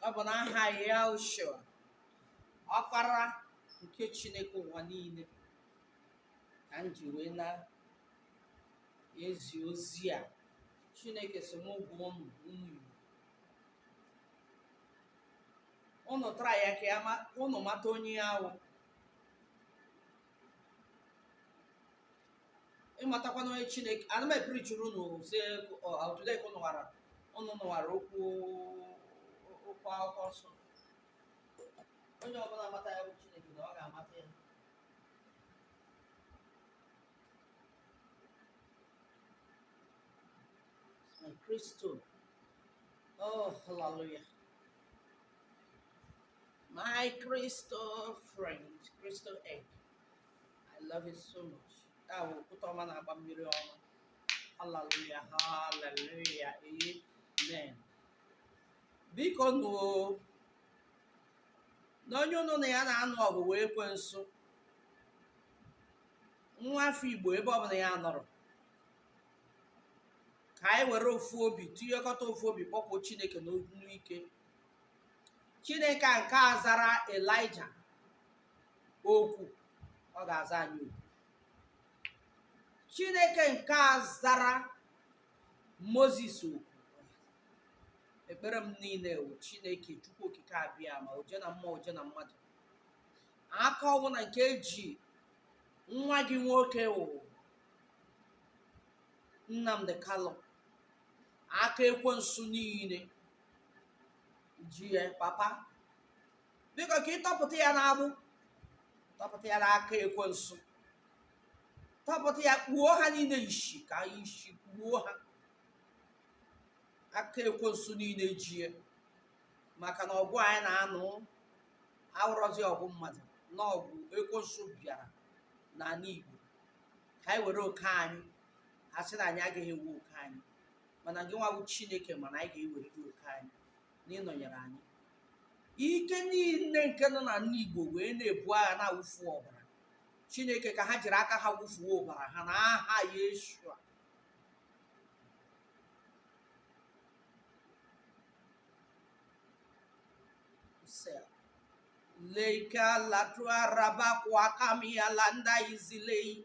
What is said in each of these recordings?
ọ bụ n'aha yahushua ọkpara nke chineke ụwa niile ka m ji wee na-ezi ozi a chineke sị m gwa ụmụ ụmụ igbo ụnụ tara ya ka ya ma- ụnụ mata onye ya wụ ị matakwanụ onye chineke ana m epreachiri unu sị o teela aka unu nwara unu nụwara okwu okwu akwụkwọ nsọ onye ọbụla mata ya bụ chineke na ọ ga-amata ya na kristo oh hallelujah My crystal friend, crystal egg. I love it so much. That will put on my bambiri on. Hallelujah, hallelujah, amen. Bikonụ na onye ụnụ na ya na-anụ ọgụ wụ ekwensu nwa afọ Igbo ebe ọ bụla ya nọrọ ka anyị were ofu obi tinyekọta ofu obi kpọkuo Chineke n'onu ike chineke a nke a zara elija oku ọ ga-aza anyị oku chineke nke a zara moses oku ekpere m niile wụ chineke chukwu okike abịama oje na mmụọ oje na mmadụ aka ọwụla nke eji nwa gị nwoke wụ nnamdi kanu aka ekwensu niile ji ya papa biko ka ị tọpụta ya n'agbụ tọpụta ya n'aka ekwensu tọpụta ya kpuo ha niile isi ka isi kpuo ha aka ekwensu niile ji ya maka na ọgụ anyị na-anụ awụrọzi ọgụ mmadụ na ọgụ ekwensu bịara n'ala Igbo ka anyị were oke anyị a sị na anyị agaghị ewe oke anyị mana gị nwa bụ chineke ma na anyị ga-eweredị oke anyị na ị nọnyere anyị ike niile nke nọ n'ime igbo wee na-ebu agha na-awụfu ọbara chineke ka ha jiri aka ha wụfuo ọbara ha na aha yeshua leika latua raba kwa kamia landa izilei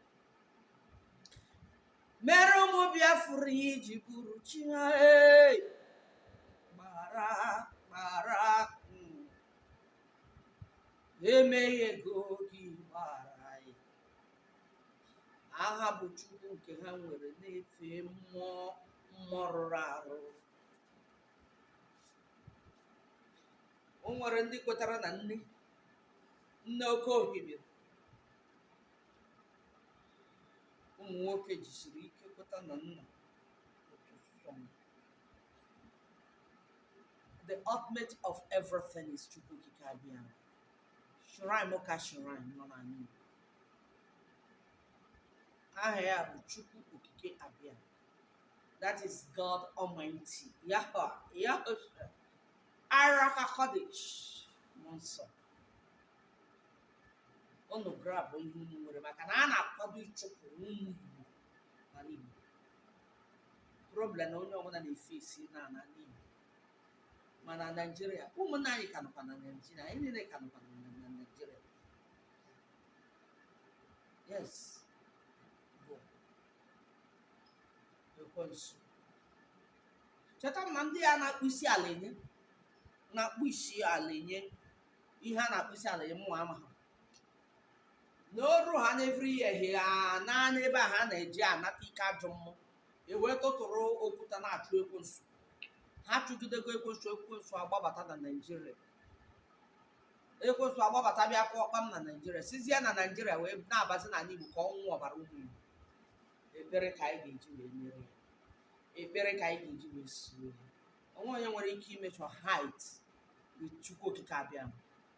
mere ụmụ biafra ya iji bụrụ chi ha ee gbara gbara mm. emeghị ego gị gbara anyị aha bụ chukwu nke ha nwere na-efe mmụọ mmụọ rụrụ arụ o nwere ndị kwetara na nne nne oke ohimiri ụmụ nwoke jisiri ike kweta na nna otu sọ m. the ultimate of everything is chukwu okike abịa shrine ka shrine nọ n'ala igbo aha ya bụ chukwu okike abịa that is god almighty yahwa yahwa ruach hakodesh mmụọ nsọ unu grab ihe unu nwere maka na a na-akwado ịchụpụ ụmụ Igbo n'ala Igbo problem na onye ọbụla na-efesi na ala Igbo ma na Naịjirịa ụmụnna anyị ka nọkwa na Naịjirịa anyị niile ka nọkwa na na Naịjirịa yes bụ ekwensu cheta na ndị a na-akpọ isi ala enye na-akpọ isi ala enye ihe a na-akpọ isi ala ya mụnwa ama ha n'oru ha n'every year ehi ha naanị ebe a ha na-eji anata ike ajọ mmụọ e wee tụtụrụ okwuta na-achụ ekwensu ha chụgidego ekwensu ekwensu agbabata na naijiria ekwensu agbabata bịa kụọ ọkpam na naijiria sizie na naijiria wee na-abazi n'ala igbo ka ọ ṅụọ ọbara ụmụ igbo ekpere ka anyị ga-eji wee merie ya ekpere ka anyị ga-eji wee sie ya o nwe onye nwere ike imeasure height with chukwu okike abịa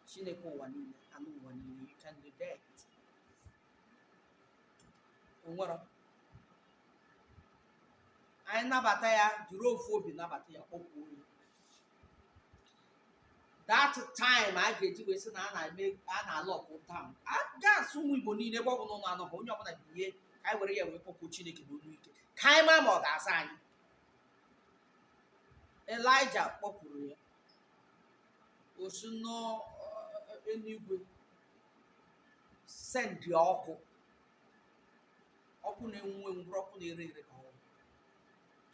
chineke ụwa niile anụ ụwa niile you can do that o nwerọ anyị nabata ya jiri ofu obi nabata ya kpọkwuo ya that time a ga-eji wee sị na a na-eme a na-alụ ọgụ taụn against ụmụ igbo niile ebe ọ bụla ụlọ anọghị onye ọbụla binye ka anyị were ya wee kpọkwuo chineke na olu ike ka anyị maa ma ọ ga-aza anyị elija kpọkuru ya o si n'eluigwe sendị ọkụ ọkụ na-enwu enwu bụrụ ọkụ na-ere ere ka ọ wụ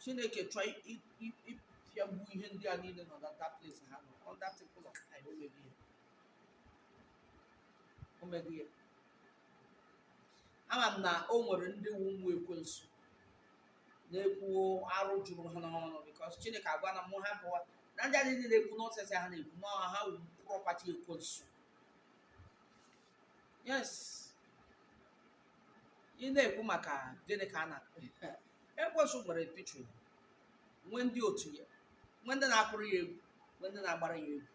chineke chọọ ịpịagbu ihe ndị a niile nọ na that place ha nọ on that temple of time o meghị ya o meghị ya ama m na o nwere ndị wu ụmụ ekwensu na-ekwu arụ juru ha n'ọnụ because chineke agwana mụ hapụwa na ndị a niile na-ekwu nonsense ha na-ekwu ma ha wu property ekwensu yes ị na-ekwu maka gịnị ka a na ekwensu nwere picture nwee ndị otu ya nwee ndị na-akụrụ ya egwu nwee ndị na-agbara ya egwu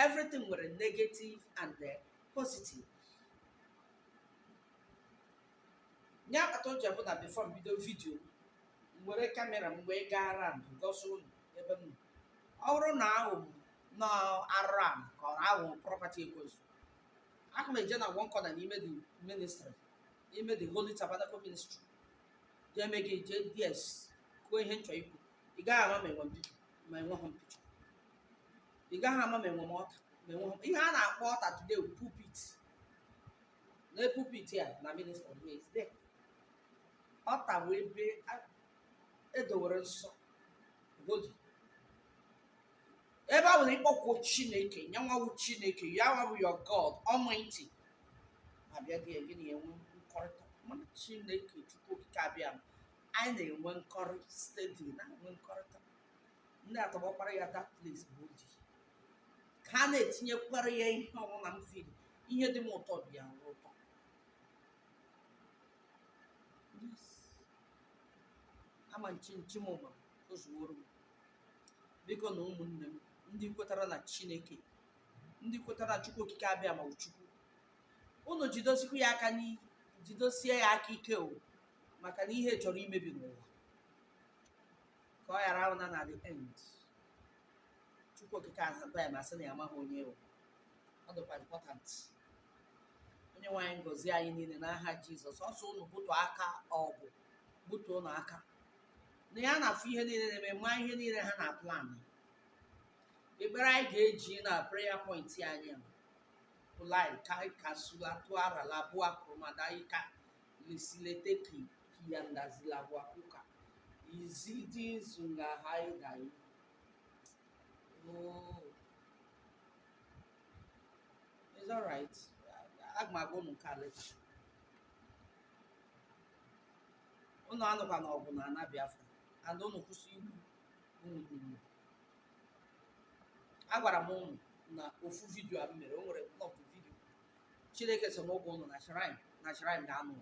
everything nwere negative and eh, positive ihe kpata o ji abụ na before m bido vidio m were kamera m wee gaa around gosi unu ebe m nọ ọ bụrụ na ahụ m na arụrụ ala ka ọ ahụ property ekwensu aka m eje na one corner n'ime the ministry n'ime the holy tabernacle ministry jee mee gị just kwuo ihe m chọ ikwu ị gaghị ama ma enwe m picture ma enweghị m picture ị gaghị ama ma enwe m altar ma enweghị m ihe a na-akpọ altar today bụ pulpit na pulpit a na-minister Wednesday altar wụ ebe edowere nsọ godi ebe ọ bụla ị kpọkuo chineke nya nwa wụ chineke ya nwa bụ your god almighty abịa gị gị na-enwe nkọrịta mana chineke chukwu okike abịa anyị na-enwe nkọrị steady na-enwe nkọrịta ndị atọgbọkwara ya that place bụ oji ka ha na-etinyekwara ya ihe ọbụla m firi ihe dị m ụtọ dị ya ụtọ ama m chi m ma o zuworo m biko na ụmụnne m ndị kwetara na chineke ndị kwetara na chukwu okike abịama chukwu unu jidosikwu ya aka ike jidosie ya aka ike o maka na ihe chọrọ imebi n'ụwa ka ọ ghara abụ na na the end chukwu okike abịama asị na ya amaghị onye ị wụ ọ dịkwa important onyenwe anyị gọzie anyị niile n'aha jizọs ọ sị unu butu aka ọgụ butu unu aka na ya na-afụ ihe niile na-eme ma ihe niile ha na-plan ekpere anyị ga-eji na prayer point anyị a pụlai ka ka sula tụara labụa kụrụmada ika Lisileteki kiyandazilabwakuka izidi zunga haidai. Oh. It's all right. Agwago m unu nke a leta. Unu anụkwana ọgụ n'ana Biafra. And unu kwụsị igbu unu gburu. Agwara m unu na ofu vidio a m mere, o nwere ofu vidio chineke sị mụ gwa ụnụ na shrine na shrine ga-anụ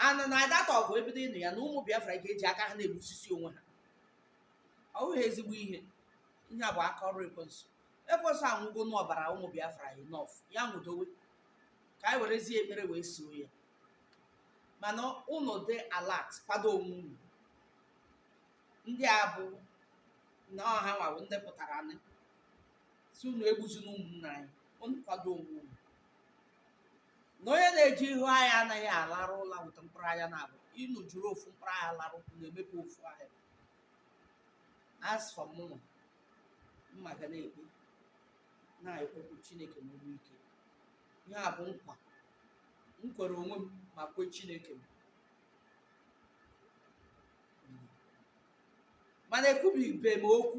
anụ and that ọgụ ebido ịnụ ya na ụmụ biafra ga-eji aka ha na-egbusisi onwe ha ọ bụghị ezigbo ihe ihe a bụ aka ọrụ ekwensu ekwensu aṅụgonụ ọbara ụmụ biafra enough ya ṅụdowe ka anyị werezie ekpere wee soo ya mana ụnụ dị alert kwado onwe unu ndị a bụ na ọha nwabụ ndị pụtara anị sị unu egbuzina ụmụnna anyị unu kwado onwe unu na onye na-eje ihu agha anaghị alarụ ụla weta mkpụrụ anya naabọ unu jiri ofu mkpụrụ anya larụ na-emepe ofu anya as for mụnwa m ma ga na-ekpe na-akpọku chineke n'olu ike ihe a bụ nkwa m kwere onwe m ma kwe chineke m mana ekwubibe m okwu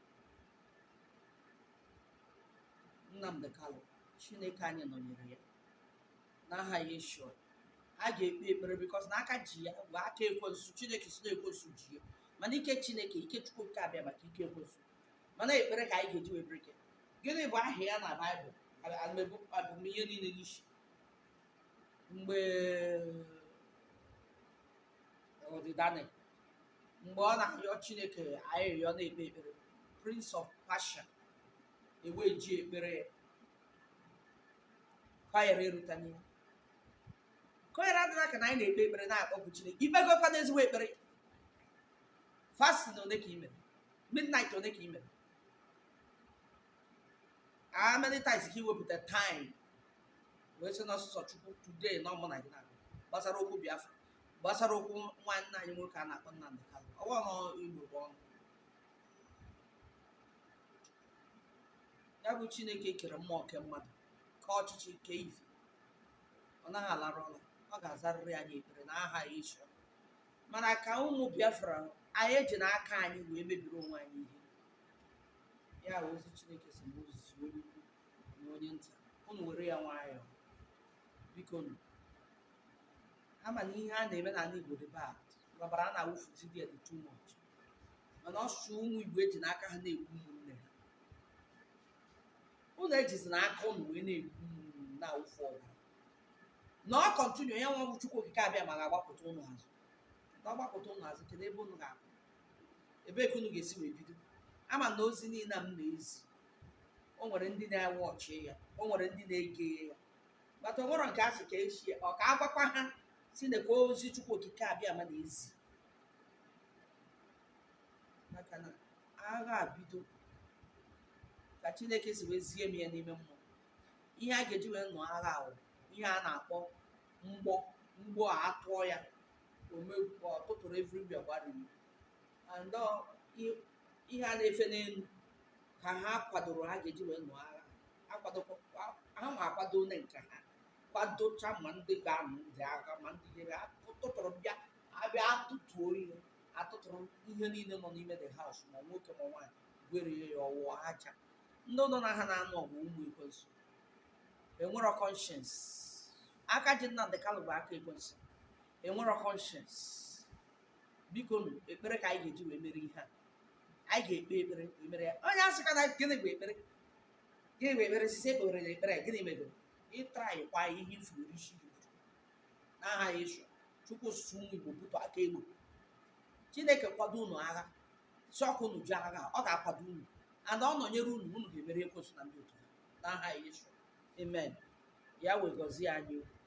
Nnamdi Kanu Chineke anyị nọnyere ya n'aha Yeshua a ga-ekpe ekpere because na aka ji ya bụ aka ekwensu Chineke sị na ekwensu ji ya mana ike Chineke ike Chukwu Okike Abịama ka ike ekwensu mana ekpere ka anyị ga-eji wee break gịnị bụ aha ya na baịbụl alụmegbu abụmihe niile n'isi mgbe ọ Daniel mgbe ọ na-arịọ chineke arịrịọ na-ekpe ekpere prince of Persia wee ji ekpere kọyere erutanye kọyere adịla ka na anyị na-ekpe ekpere na-akpọku chineke i kpegokwanụ ezigbo ekpere fasting ole ka i mere midnight ole ka i mere how many times ka i wepụta time wee sị na ọ sọsọ chukwu today na ọ mụ na gị na gbasara okwu biafra gbasara okwu nwanne anyị nwoke a na-akpọ Nnamdi Kanu ọ bụ na i buo ọnụ ya bụ chineke kere mmụọ kee mmadụ kee ọchịchị kee ife ọ naghị alarụ ụla ọ ga-azarịrị anyị ekpere na aha Yeshua mana ka ụmụ biafra anyị ejina aka anyị wee mebiri onwe anyị ihe ya bụ ozi chineke sị mụ zi onye ukwu na onye nta unu were ya nwayọọ bikonụ ama m na ihe a na-eme n'ala Igbo dị bad ọbara a na-awụfu dị dị too much mana ọ sọsọ ụmụ Igbo ejina aka ha na-egbu ụmụnne ha unu ejizina aka unu wee na-egbu ụmụnne na-awụfu ọbara na ọ continue ya nwa bụ Chukwu Okike Abịama ga-agbakụta ụnụ azụ na ọ gbakụta ụnụ azụ kedu ebe unu ga-abụ ebee ka unu ga-esi wee bido ama m na ozi niile a m na-ezi o nwere ndị na-enwe ọchị ya o nwere ndị na-ege ya but o nwere nke a sị ka esi ọ ka agwakwa ha sị na ka ozi chukwu okike abịama na-ezi maka na agha abido ka chineke si wee zie m ya n'ime mmụọ ihe a ga-eji wee nụọ agha ahụ ihe a na-akpọ mgbọ mgbọ a tụọ ya omegbu ọtụtụrụ everywhere gbariri and ọ- i- ihe a na-efe n'elu ka ha kwadoro ha ga-eji wee nụọ agha ha kwadokwa ha ma akwado onye nke ha kwadocha ma ndị ga-anụ ndị agha ma ndị nyere ha tụtụrụ bịa abịa atụtuo ihe atụtụrụ ihe niile nọ n'ime the house ma nwoke ma nwaanyị gwerie ya ọ wụrụ aja ndị unu na ha na-anụ ọgụ ụmụ ekwensu enwero conscience aka ji Nnamdi Kanu bụ aka ekwensu enwero conscience bikonụ ekpere ka anyị ga-eji wee mere ihe a anyị ga-ekpe ekpere wee mere ya onye asịkwana gịnị bụ ekpere gịnị bụ ekpere since ekpere na ekpere gịnị mebere ị traịkwa ihe ị furu isi gị n'aha Yeshua chukwu osisi ụmụ igbo bụtụ aka egbo chineke kwado unu agha si ọkụ unu ji agha ọ ga-akwado unu and ọ nọnyere unu unu ga-emeri ekwensu na ndị otu ya n'aha Yeshua amen Yahweh gọzie anyị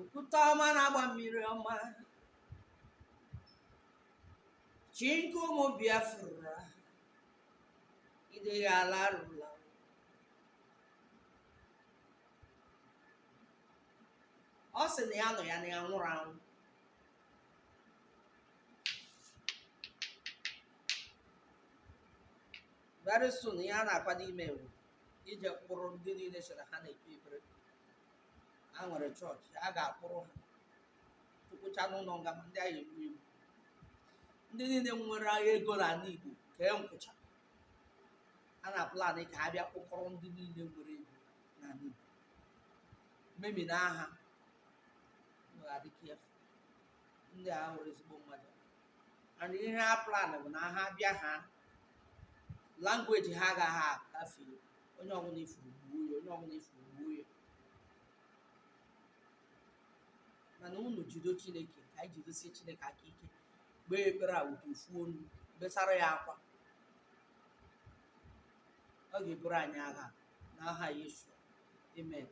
okwute ọma na-agba mmiri ọma chi nke ụmụ biafra ị dịghị alarụ ụla ọ sị na ya nọ ya na ya nwụrụ anwụ very soon ihe a na-akwado ime eruo ije kpụrụ ndị niile sị na ha na-ekpe ekpere ha nwere chọọchị ha ga-akpụrụ ha tụkwụcha n'ụlọ nga ma ndị na-ewu ewu ndị niile nwere agha ego na ala Igbo kee nkwụcha a na-plan ka ha bịa kpụkọrọ ndị niile nwere ego na ala Igbo memina ha adịka efu ndị a abụrọ ezigbo mmadụ and ihe ha plan bụ na ha bịa ha language ha agaghị agafe onye ọbụla i furu gbuo ya onye ọbụla i furu gbuo ya mana unu jido chineke ka anyị jidosie chineke aka ike kpee ekpere with ofu onu besara ya akwa ọ ga-eburu anyị agha n'aha Yesu amen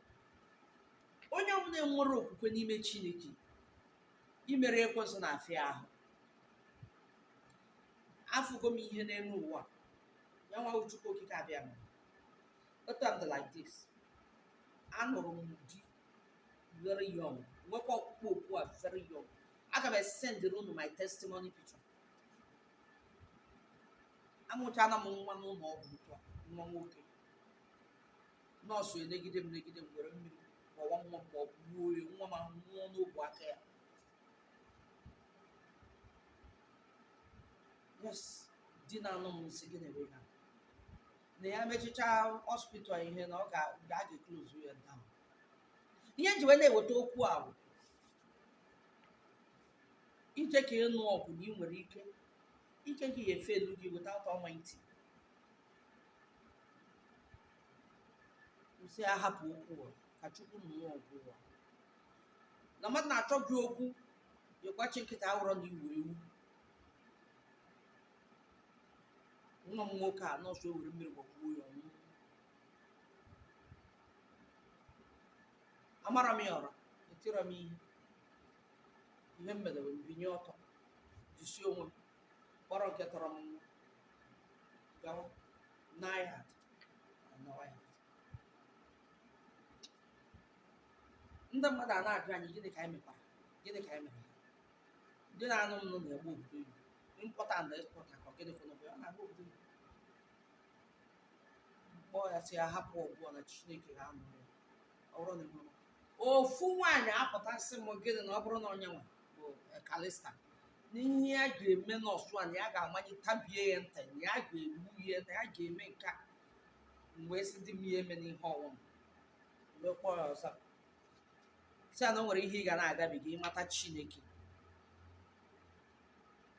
onye ọbụla nwere okwukwe n'ime chineke imeri ekwensu na-afịa ahụ afụgo m ihe n'elu ụwa ya nwa chukwu okike abịa m otu a m dị like this anụrụ m di very young nwekwa ọkpụkpọ oku a very young aga m esendịrị unu my testimony picture amụchana m nwa n'ụlọ ọgwụ ugbu a nwa nwoke nọọsụ enegide m negide m were mmiri gbawa nwa m ma ọ bụ gbuo ya nwa m ahụ nwụọ n'ogwe aka ya yes di na-anụ m sị gịnị na-eme na ya mechichaa hospital ihe na ọ ga- ga- a ga-eklozu ya down ihe m ji wee na-eweta okwu a bụ ije ka ị nụọ ọgụ na ị nwere ike ike gị ya efe elu gị without almighty kwụsị ahapụ okwu ụwa ka chukwu nwe okwu ụwa na mmadụ na-achọ gị okwu ị gbachi nkịtị awụrọ na ị wụ ewu nwa m nwoke a nọọsụ ewere mmiri gbagbuo ya ọ nwụọ amarọ m ya ọra etirọ m ihe ihe m mere wee binye ọtọ jisie onwe m kpọrọ nke tọrọ m nwa gawa n'ahịa ndị mmadụ ana-ajụ anyị gịnị ka anyị mekwara gịnị ka anyị mere di na-anụ m nụ na-agba obodo oyibo importer na exporter ka gịnị kwụrụ bụ ya na-agba obodo oyibo kpọọ ya sị ya hapụ ọgụ na Chineke ga-anụ ya ọ bụrụ na ịmụrụ ofu nwaanyị apụta sị m gịnị na ọ bụrụ na ọ ya nwa bụ kalista na ihe ya ga-eme nọọsụ a na ya ga-amanye tabie ya ntị na ya ga-egbu ya na ya ga-eme nke a m wee sị di m ya emena ihe ọbụna wee kpọọ ya ọzọ sị ya na o nwere ihe ị ga na-agabiga ị mata chineke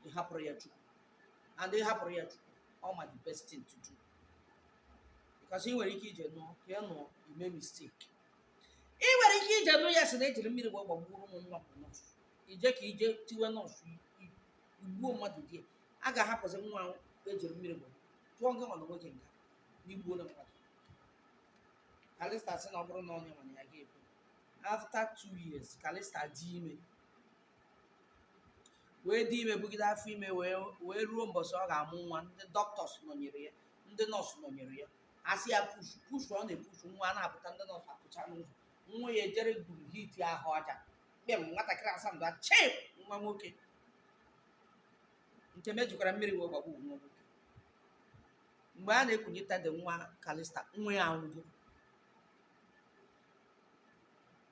ị hapụrụ ya chukwu and ị hapụrụ ya chukwu ọ ma the best thing to do because ị nwere ike ije nụọ ka ị nụọ i mee mistake ị nwere ike ije nụ ya sị na ejiri mmiri wee gbagburu m nwa bụ nọọsụ ije ka ije tiwe nọọsụ i- igbuo mmadụ di ya a ga-ahapụzi nwa ahụ ejiri mmiri gbagbu tụọ gị nwa na nwoke nga na i gbuona mmadụ kalista sị na ọ bụrụ na ọ ya nwa ya ga-egbu after two years kalista dị ime wee dị ime bugide afọ ime wee wee ruo mbọsị ọ ga-amụ nwa ndị dọkịtọs nọnyere ya ndị nọọsụ nọnyere ya a sị ya push push ọ na-epush nwa a na-apụta ndị nọọsụ apụcha n'ụzọ nwa ya ejere gburu hit ahụ aja kpem nwatakịrị asamdụ a chep nwa nwoke nke mejukwara mmiri wee gbagbu nwa nwoke mgbe a na-ekunye tade nwa kalista nwa ya anwụgo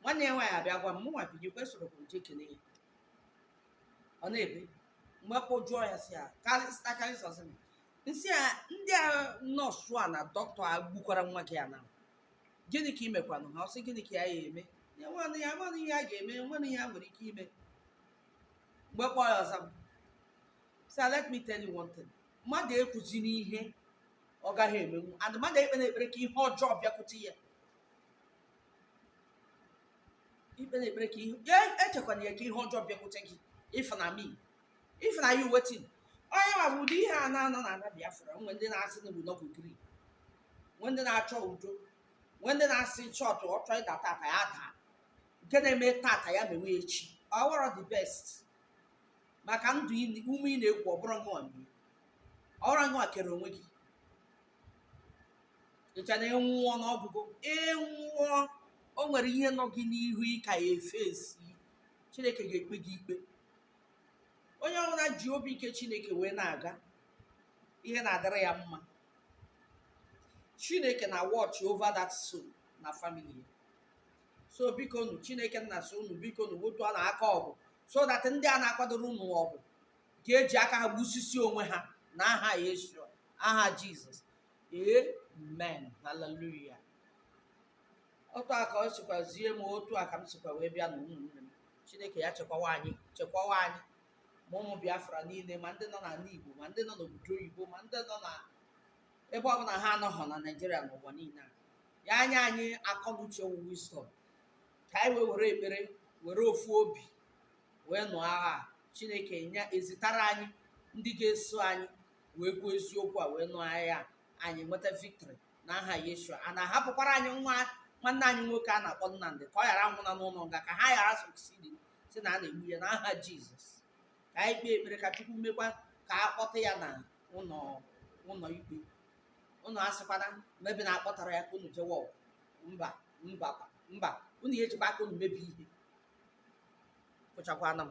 nwanne ya nwaanyị abịa gwa m mụnwa binyekwa esoro m je kene ya ọ na-ebe mgbe kpọjụọ ya sị ya kalista kalista sị m m sị ya ndị a nọọsụ a na dọkịta egbukwara nwa gị a na gịnị ka ị mekwanụ ha ọ sị gịnị ka ya ya-eme ya nwanụ ya nwanụ ihe a ga-eme nwanụ ihe a nwere ike ime mgbe kpọọ ya ọ za m sị "Ah, let me tell you one thing mmadụ ekwuzina ihe ọ gaghị emenwu and mmadụ ekpena ekpere ka ihe ọjọọ bịakwute ya ị kpena ekpere ka ihe ya echekwana ya ka ihe ọjọọ bịakwute gị if na me if na you wetin onye ma bụ ụdị ihe a na-anọ na ala biafra nwe ndị na-asị na obodo bụ gri nwe ndị na-achọ udo nwe ndị na-asị chọọtụ ọ chọọ ịda tata ya daa nke na-eme tata ya mewe echi ọ wụrọ the best maka ndụ ị- ume ị na-eku ọ bụrọ ngịwa nwe ọ bụrọ ngịwa kere onwe gị i che na ị nwụọ na ọ gwụgo ị nwụọ o nwere ihe nọ gị n'ihu ị ka ya-eface chineke ga-ekpe gị ikpe onye ọbụla ji obi nke chineke wee na-aga ihe na-adịrị ya mma chineke na watch over that soul na family ya so bikonu chineke nna so unu bikonu wotuanụ aka ọgụ so that ndị a na-akwadoro unu ọgụ ga-eji aka ha gbusisi onwe ha na aha yeshua aha jizọs amen hallelujah otu a ka o sikwa zie m otu a ka m sikwa wee bịa na ụmụnne m chineke ya chekwawa anyị chekwawa anyị ma ụmụ biafra niile ma ndị nọ n'ala igbo ma ndị nọ n'obodo oyibo ma ndị nọ na ebe ọ bụla ha anọghọ na naijiria n'ụwa niile ya nye anyị akọ na uche wụ wisdom ka anyị wee were ekpere were ofu obi wee nụọ agha a. chineke ya ezitara anyị ndị ga-eso anyị wee kwuo eziokwu a wee nụọ agha a, anyị nweta victory n'aha Yeshua a na-ahapụkwara anyị nwa nwanne anyị nwoke a na-akpọ Nnamdị ka ọ ghara nwụna n'ụlọ nga ka ha ghara succeed sị na ha na-egbu ya n'aha Jizọs ka anyị kpee ekpere ka Chukwu mekwa ka a kpọta ya na ụlọ ụlọ ikpe ụnụ asịkwana maybe na akpọtarọ ya ka ụnụ jewe ọgụ mba mba mba ụnụ ya-ejikwa aka ụnụ mebie ihe ekwuchakwana m